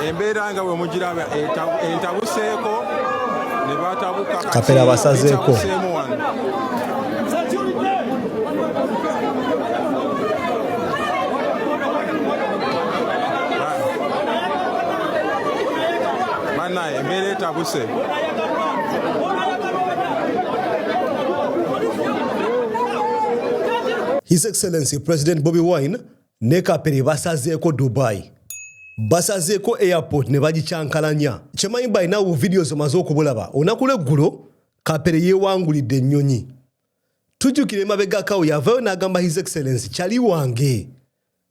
embeera nga wemugiraba entabuseeko nebatabuka kapera basazeeko banaye embeera etabuse His Excellency President Bobi Wine ne kapere basazeeko dubai basazeeko airport ne bagikyankalanya kyemanyi balina bu videos omaze okubulaba olunaku lweggulo kapere yeewangulidde ennyonyi tujjukira emabegakawo yavayo n'agamba his excellence kyali wange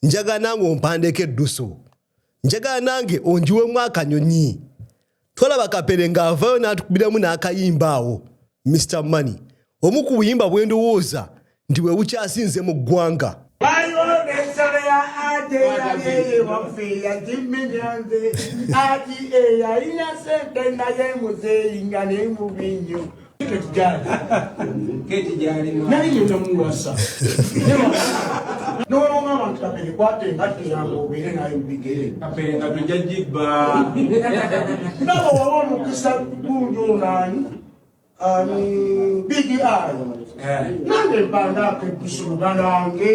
njagala nange ompandeeko eddusu njagala nange onjiwemu akanyonyi tolaba kapere ng'avayo n'atukubiramu n'akayimba awo mr money omu ku buyimba bwe ndowooza nti bwe bukyasinze mu ggwanga n'olonga abantu kapere kwata engatto yange obeere nayo mubigere kapere nga tujja gibba nabo waba omukisa gundi onaani ani bigi ayo nange mbandaako ebusu luganange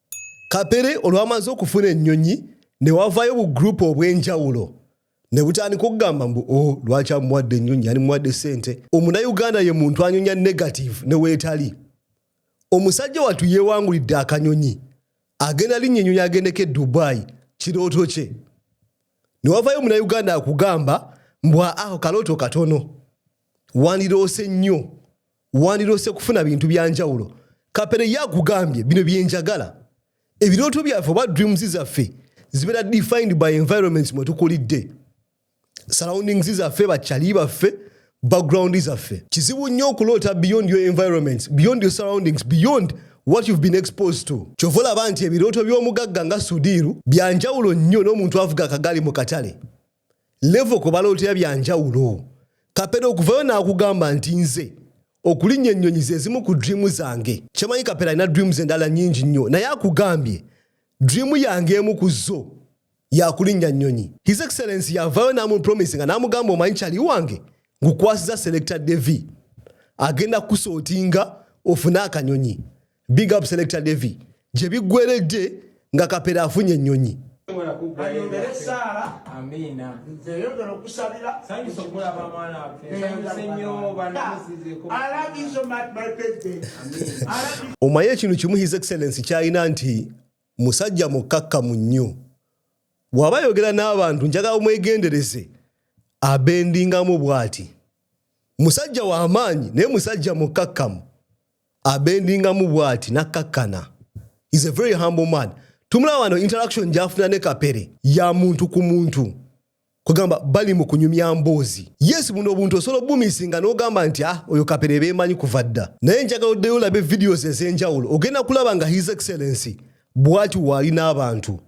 kapere olwamaze okufuna ennyonyi ne wavayo bu gurupu obw'enjawulo ne butandika okugamba mbu o oh, lwaki amuwadde ennyonyi ani muwadde sente omunayuganda ye muntu anyonya negative ne weetali omusajja wattu yeewangulidde akanyonyi agenda linnya ennyonyi agendeko e dubai kirooto kye ne wavayo omunayuganda akugamba mbwa aho kalooto katono wandiroose nnyo wandiroose kufuna bintu bya njawulo kapere ye akugambye bino byenjagala ebirooto byaffe oba dreams zaffe zibeera defined by environments mwe tukulidde surroundings zaffe bakyali baffe background zaffe kizibu nnyo okuloota beyond your environments beyond your surroundings beyond what you've been exposed to kyova olaba nti ebirooto by'omugagga nga sudiiru byanjawulo nnyo n'omuntu avuga akagaali mu katale levo kwe balootera bya njawulo kapere okuvayo n'akugamba nti nze okulinnya ennyonyi ze zimu ku dreamu zange kyemanyi kapere alina dreamu ze endala nnyingi nnyo naye akugambye dreamu yange emu ku zo yakulinnya nnyonyi his excellence yavayo n'amupromisi nga n'amugamba omanyi kyali wange ngukwasiza selecta devi agenda kukusootinga ofune akanyonyi big up selector devi gye biggweredde nga kapera afunye ennyonyi ayongere esaala eyongere okusabira omaye ekintu kimu his excellence kyalina nti musajja mukkakkamu nnyo waba ayogera n'abantu njagala omwegendereze abendingamu bwati musajja w'amaanyi naye musajja mukkakkamu abendingamu bwati nakkakkana is a very humble man tumulaba wano interaction gyafuna ne kapere ya muntu ku muntu kugamba bali mu kunyumya mboozi yes buno obuntu osobola obumisinga n'ogamba nti ah oyo kapere beemanyi kuva dda naye njagala oddeyo olabe videos ez'enjawulo ogenda kulaba nga his excellency bwati waali n'abantu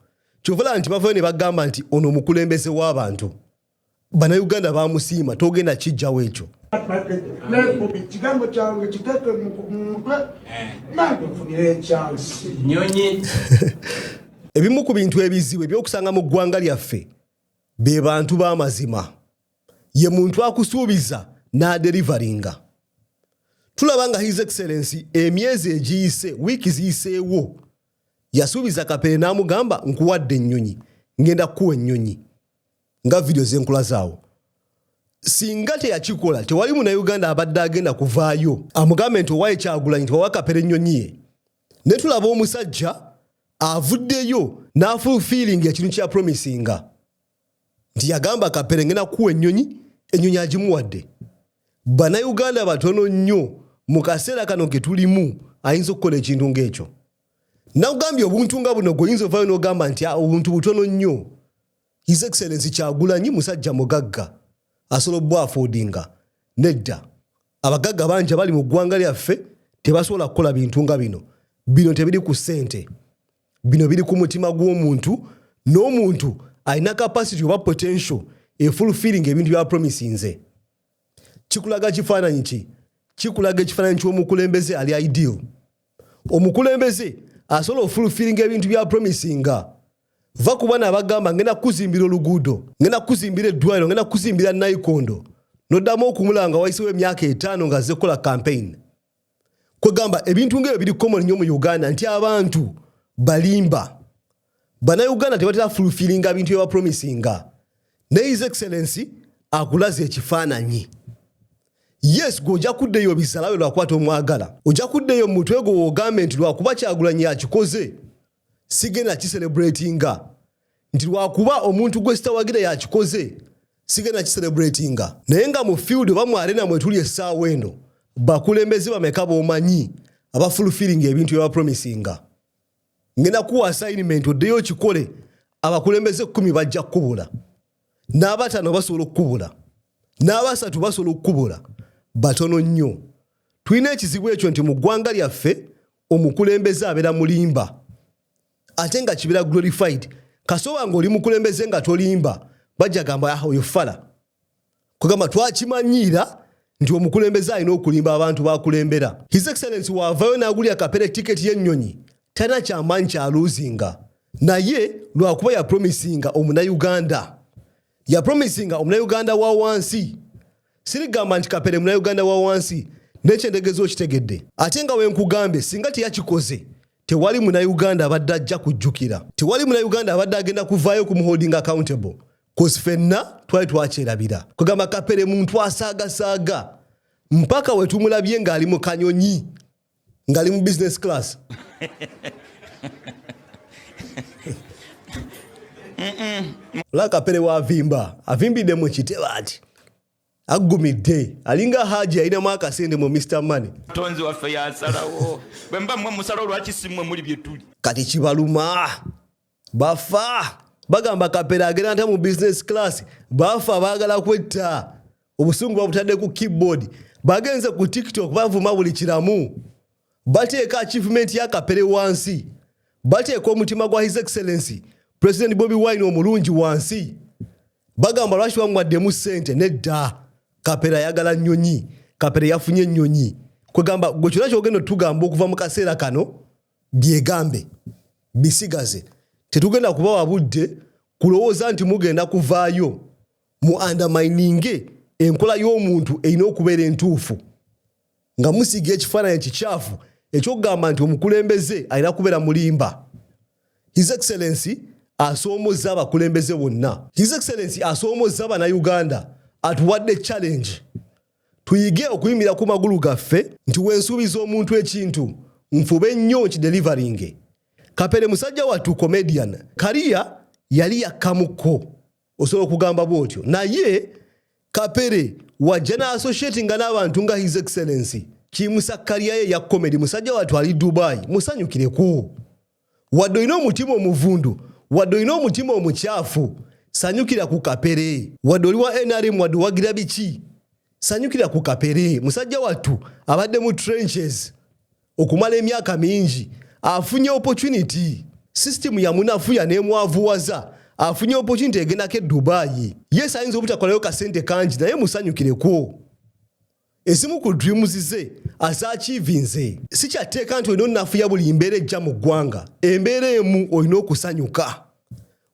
kyovala nti bavayo ne bagamba nti ono omukulembeze w'abantu banauganda bamusiima togenda kijjawo ekyo ebimu ku bintu ebizibu ebyokusanga mu ggwanga lyaffe be bantu b'amazima ye muntu akusuubiza n'aderivaringa tulaba nga his excellency emyezi egiyise wiiki ziyiseewo yasuubiza kapere n'amugamba nkuwadde ennyonyi ngenda kukuwa ennyonyi nga vidiyo zenkula zaawo singa teyakikola tewali munauganda abadde agenda kuvaayo amugambe nti owaye kyagulanyi nti wawakapera ennyonyi ye ne tulaba omusajja avuddeyo n'afulfiilinga ekintu kya promisinga nti yagamba kapere ngenda kuwa ennyonyi ennyonyi agimuwadde banauganda batono nnyo mu kaseera kano ke tulimu ayinza okukola ekintu ng'ekyo nakugambye obuntu nga buno gweoyinza ovaayo n'ogamba nti ah, obuntu butono nnyo His Excellency Kyagulanyi musajja mugagga asobola obwafoodinga nedda abagagga bangi abali mu ggwanga lyaffe tebasobola kukola bintu nga bino bino tebiri ku ssente bino biri ku mutima gw'omuntu n'omuntu alina capacity oba potential efulfilling ebintu bya promisinze kikulaga kifaananyi ki kikulaga ekifaananyi ky'omukulembeze ali ideal omukulembeze asobola ofulfilling ebintu bya promisinga va ku bana abagamba ngenda kukuzimbira oluguudo ngenda kukuzimbira eddwaliro ngenda kukuzimbira nayikondo noddamu okumulanga wayisewo emyaka etaano nga azze kukola kampeyini kwegamba ebintu ngaebyo biri common nnyo mu uganda nti abantu balimba banauganda tebatera fulfilinga bintu byebapromisinga naye his excellency akulaza ekifaananyi yes gwe ojja kuddeyo obisalawe lwakwata omwagala ojja kuddeyo mu mutwe gwe wogambe nti lwakuba kyagulanyi akikoze sigenda kiserebratinga nti lwakuba omuntu gwe sitawagira yakikoze sigenda kiserebratinga naye nga mu field oba mu arena mwetuli essaawa eno bakulembeze bameka bomanyi abafulfiringa ebintu byebapromisinga ngenda kuwa assignment oddeyo okikole abakulembeze kumi bajja kukubula n'abatano basobola okukubula n'abasatu basobola okukubula batono nnyo tulina ekizibu ekyo nti mu ggwanga lyaffe omukulembeze abeera mulimba ate nga kibeera glorified kasoba nga oli mukulembeze nga tolimba bajja gamba ah, oyo fala kugamba twakimanyiira nti omukulembeze alina okulimba abantu bakulembera his excellence waavayo n'agulira kapere tiketi y'ennyonyi talina kyamaanyi kya luzinga naye lwakuba yapromisinga omunauganda yapromisinga omunauganda wa wansi sirigamba nti kapere munauganda wa wansi nekyendegezo okitegedde ate nga wenkugambye singa teyakikoze tewali munauganda abadde ajja kujjukira tewali munauganda abadde agenda kuvaayo kumuholding accountable kozi fenna twali twakyerabira kugamba kapere muntu asaagasaaga mpaka wetumulabye ng'ali mu kanyonyi ng'ali mu business class la kapere wavimba avimbidde mu kiteba ati aggumidde alinga haji yalinamu akasente mu mr money tonzi waffe yasalawo bwemba mwe musalawo lwaki simwe muli byetuli kati kibaluma bafa bagamba kapera agenda nta mu business class bafa bagala kwetta obusungu babutadde ku keyboard bagenze ku tiktok bavuma buli kiramu bateeka achievement ya kapere wansi bateeka omutima gwa his excellency president bobi wine omulungi wansi bagamba lwaki bamwaddemu sente nedda kapera ayagala nyonyi kapera yafunye enyonyi kwegamba gwe kyona kyogenda otugamba okuva mu kaseera kano byegambe bisigaze tetugenda kubawa budde kulowooza nti mugenda kuvaayo mu andamininge enkola y'omuntu erina okubeera entuufu nga musiga ekifaananyi kikyafu ekyokugamba nti omukulembeze alina kubeera mulimba his excellency asoomozza abakulembeze bonna his excellency asoomozza banauganda atuwadde challenge tuyige okuyimirira ku magulu gaffe nti wensuubiza omuntu ekintu nfube nnyo nkideliveringe kapere musajja wattu comedian kariya yali yakkamukko osobola okugamba bwotyo naye kapere wajja naassociatinga n'abantu nga his excellency kimusakkalyaye ya comedy musajja wattu ali dubai musanyukireko wadde olina omutima omuvundu wadde olina omutima omukyafu sanyukira ku kapere wadde oli wa nrm wadde owagira biki sanyukira ku kapere musajja wattu abadde mu trenches okumala emyaka mingi afunye opportunity system yamunafuya nemwavuwaza afunye opportunity egendako e dubayi yes ayinza obutakolayo kasente kangi naye musanyukireko ezimu ku dreams ze azakiivinze sikyatteeka nti olina onafuya buli mbeera ejja mu ggwanga embeera emu olina okusanyuka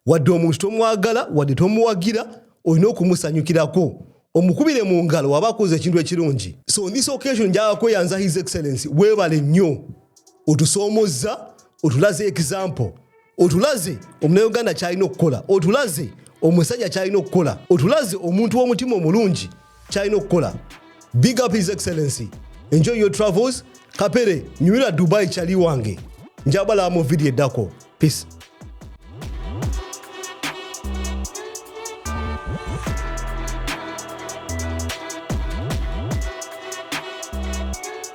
wadde omuntu tomwagala wadde tomuwagira olina okumusanyukirako omukubire mu ngalo waba akoze ekintu ekirungi so on this occasion njaga kweyanza his excellence weebale nnyo otusoomozza otulaze example otulaze omunauganda kyalina okukola otulaze omusajja kyalina okukola otulaze omuntu w'omutima omulungi kyalina okukola big up his excellency enjoy your travels kapere nyumira dubai kyali wange njabalaba mu vidiyo eddako peace